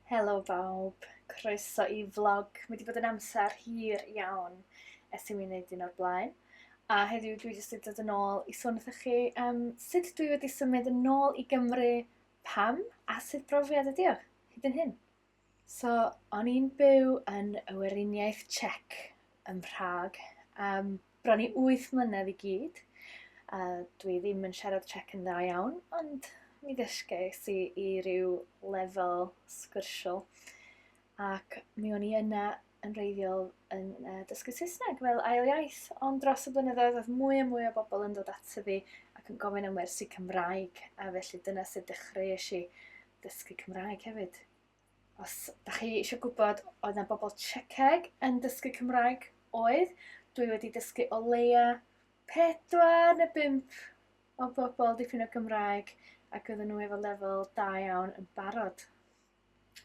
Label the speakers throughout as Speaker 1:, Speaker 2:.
Speaker 1: Helo bawb, croeso i vlog. Mae wedi bod yn amser hir iawn ers i mi wneud un o'r blaen. A heddiw dwi jyst wedi dod yn ôl i sôn wrthych chi um, sut dwi wedi symud yn ôl i Gymru, pam a sut brofiad ydi o hyd yn hyn. So, o'n i'n byw yn y Weriniaeth Czech ym Mhrag am bron i wyth mlynedd i gyd, a dwi ddim yn siarad Czech yn dda iawn, ond mi ddysges i i ryw lefel sgyrsiol. Ac mi o'n i yna yn reiddiol yn uh, dysgu Saesneg fel ail iaith, ond dros y blynyddoedd oedd mwy a mwy o bobl yn dod ato fi ac yn gofyn am wersi Cymraeg, a felly dyna sut dechreuais i dysgu Cymraeg hefyd. Os da chi eisiau gwybod oedd yna bobl Czecheg yn dysgu Cymraeg, oedd. Dwi wedi dysgu o leia pedwar neu bump o bobl dipyn o Gymraeg ac oedden nhw efo lefel da iawn yn barod.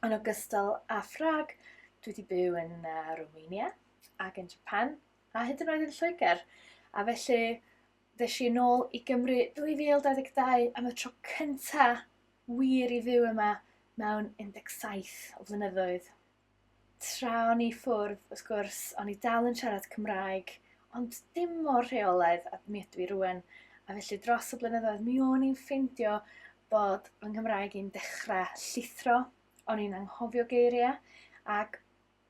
Speaker 1: Yn ogystal â Ffrag, dwi wedi byw yn uh, Romania ac yn Japan a hyd yn oed yn Lloegr. A felly Ddes i yn ôl i Gymru 2022 am y tro cynta wir i fyw yma mewn 17 o flynyddoedd. Tra o'n i ffwrdd, wrth gwrs, o'n i dal yn siarad Cymraeg, ond dim mor rheolaidd a mi ydw i rwan. A felly dros y blynyddoedd mi o'n i'n ffeindio bod fy Nghymraeg i'n dechrau llithro, o'n i'n anghofio geiriau, ac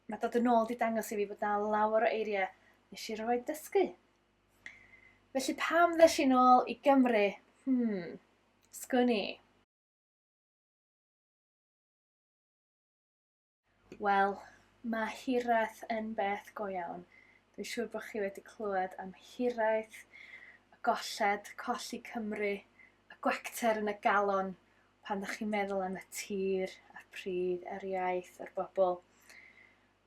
Speaker 1: mae dod yn ôl di dangos i fi bod na lawer o eiriau nes i roed dysgu. Felly pam ddes i'n ôl i Gymru? Hmm, sgwn i. Wel, mae hiraeth yn beth go iawn. Dwi'n siŵr bod chi wedi clywed am hiraeth, y golled, colli Cymru, y gwacter yn y galon pan ddech chi'n meddwl am y tir, a'r pridd, a'r iaith, a'r bobl.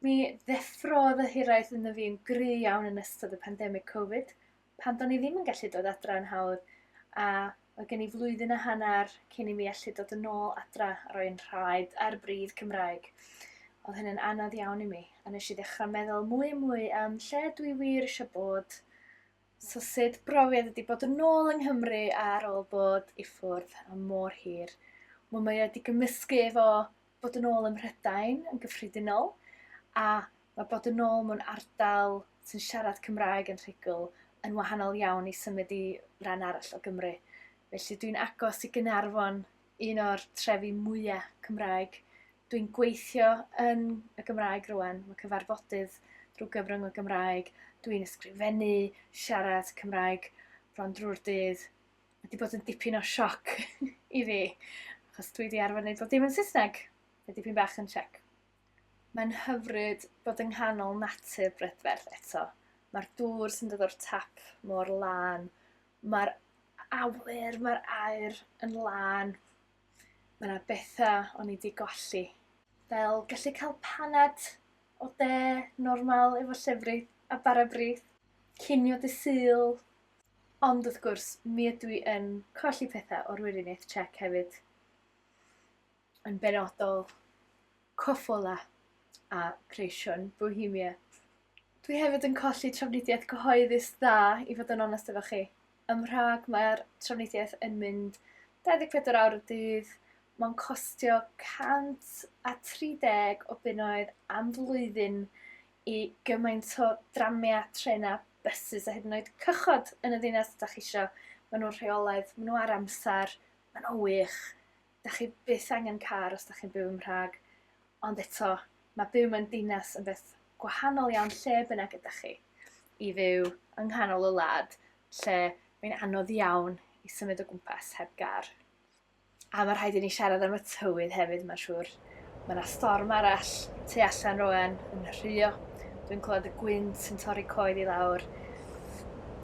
Speaker 1: Mi ddeffrodd y hiraeth ynddo fi'n gry iawn yn ystod y pandemig Covid, pan do'n i ddim yn gallu dod adra yn hawdd, a oedd gen i flwyddyn a hanner cyn i mi allu dod yn ôl adra a roi'n rhaed ar bridd Cymraeg. Oedd hynny'n anodd iawn i mi, a nes i ddechrau meddwl mwy a mwy am lle dwi wir eisiau bod, So sut brofiad ydi bod yn ôl yng Nghymru ar ôl bod i ffwrdd am mor hir? Wel mae wedi gymysgu efo bod yn ôl ym Mhrydain yn gyffredinol a mae bod yn ôl mewn ardal sy'n siarad Cymraeg yn rhugl yn wahanol iawn i symud i ran arall o Gymru. Felly dwi'n agos i Gaernarfon un o'r trefi mwya' Cymraeg. Dwi'n gweithio yn y Gymraeg rwan, ma' cyfarfodydd drw' gyfrwng y Gymraeg, dwi'n ysgrifennu, siarad Cymraeg bron drw'r dydd. Ma' 'di bod yn dipyn o sioc i fi, achos dwi 'di arfer neud bob dim yn Saesneg. Mae dipyn bach yn sioc. Mae'n hyfryd bod yng nghanol natur brydferth eto. Ma'r dŵr sy'n dod o'r tap mor lân, Mae'r awyr, mae'r aer yn lân. Mae yna bethau o'n i wedi golli. Fel gallu cael paned o de normal efo llefrith a bara brith. Cinio dy Sul. Ond wrth gwrs, mi ydw i yn colli pethau o'r Wiriniaeth Tsiec hefyd. yn benodol Coppola a Creation Bohemia. Dwi hefyd yn colli trafnidiaeth gyhoeddus dda, i fod yn onest efo chi. Ym Mhrag mae'r trafnidiaeth yn mynd 24 awr y dydd, mae'n costio 130 o bunnoedd am flwyddyn i gymaint o dramia, trena, buses a hyd yn oed cychod yn y ddinas ydych chi eisiau. Maen nhw'n rheolaidd, maen nhw ar amser, maen nhw wych. dach chi byth angen car os dach chi'n byw yn Mhrâg, ond eto, mae byw mewn dinas yn beth gwahanol iawn lle bynnag ydach chi. I fyw yng nghanol y wlad, lle mae'n anodd iawn i symud o gwmpas heb gar. A mae rhaid i ni siarad am y tywydd hefyd, mae'n siŵr. Mae 'na storm arall tu allan roen yn rhuo. Dwi'n clywed y gwynt yn torri coed i lawr.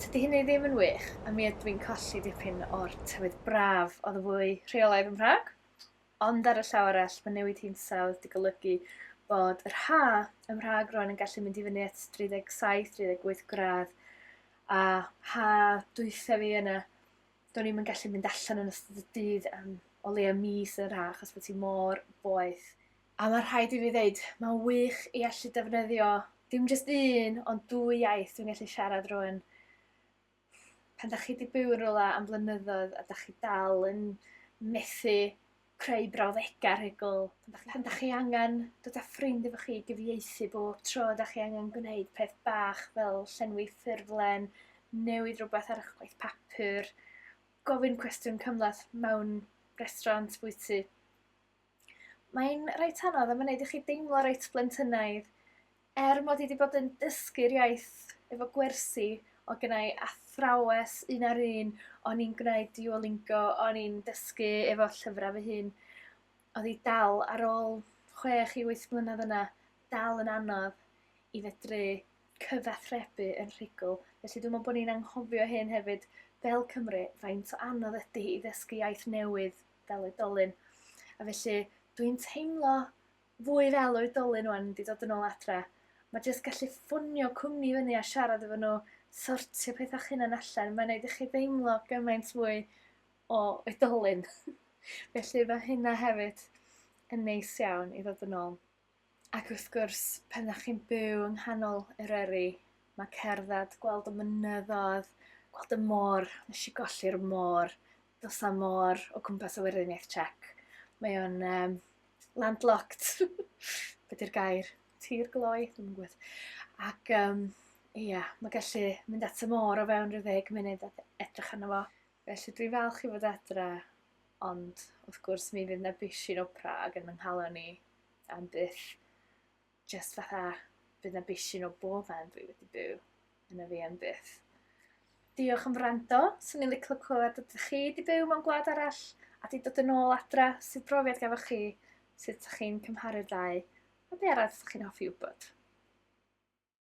Speaker 1: Tydi hynny ddim yn wych, a mi ydw i'n colli dipyn o'r tywydd braf oedd y fwy rheolaidd yn Prag. Ond ar y llaw arall, mae newid hinsawdd wedi golygu bod yr ha ym Mhrag roen yn gallu mynd i fyny at 37-38 gradd a ha dwytha fi yna do'n i'm yn gallu mynd allan yn ystod y dydd am o leia mis yn yr ha' achos bo' ti mor boeth. A ma' rhaid i fi ddeud ma'n wych i allu defnyddio dim jyst un ond dwy iaith dwi'n gallu siarad rŵan. Pan 'dach chi 'di byw yn rwla am flynyddoedd a 'dach chi dal yn methu creu brawddega' rhugl pan dach pan dach chi angan dod â ffrind efo chi i gyfieithu bob tro dach chi angan gwneud peth bach fel llenwi ffurflen, newid rwbeth ar 'ych gwaith papur, gofyn cwestiwn cymhleth mewn restaurant bwyty. Mae'n reit anodd a ma'n neud i chi deimlo reit blentynaidd. Er mod i 'di bod yn dysgu'r iaith efo gwersi o' gynnai athrawes un ar un o'n i'n gwneud Duolingo o'n i'n dysgu efo llyfra' fy hun odd 'i dal ar ôl chwech i wyth mlynadd yna dal yn anodd i fedru cyfathrebu yn rhugl. Felly dwi me'wl bo' ni'n anghofio hyn hefyd fel Cymry faint o anodd ydi i ddysgu iaith newydd fel oedolyn. A felly dwi'n teimlo fwy fel oedolyn wan mynd i dod yn ôl adre ma jyst gallu ffonio cwmni fyny a siarad efo nhw sortio pethau chynan allan mae'n neud i chi deimlo gymaint fwy o oedolyn felly mae hynna hefyd yn neis iawn i ddod yn ôl ac wrth gwrs pan ydych chi'n byw yng nghanol Eryri mae cerdded gweld y mynyddoedd gweld y môr nes i golli'r môr does 'na môr o gwmpas y Weriniaeth Tsiec mae o'n yym landlocked be 'di'r gair? Tir gloi? Dwi'm yn gwybod. Ac yym ia ma' gallu mynd at y môr o fewn rhyw ddeg munud a edrych arno fo. Felly dwi'n falch i fod adre ond wrth gwrs mi fydd 'na bishyn o Prâg yn 'y nghalon i am byth. jyst fatha bydd na bishyn o bob man dwi wedi byw yn y fi am byth. Diolch am wrando, swn i'n licio clywed ydych chi wedi byw mewn gwlad arall a di dod yn ôl adra, sydd brofiad gafoch chi, sut ydych chi'n cymharu'r ddau, a be arall ydych chi'n hoffi wybod.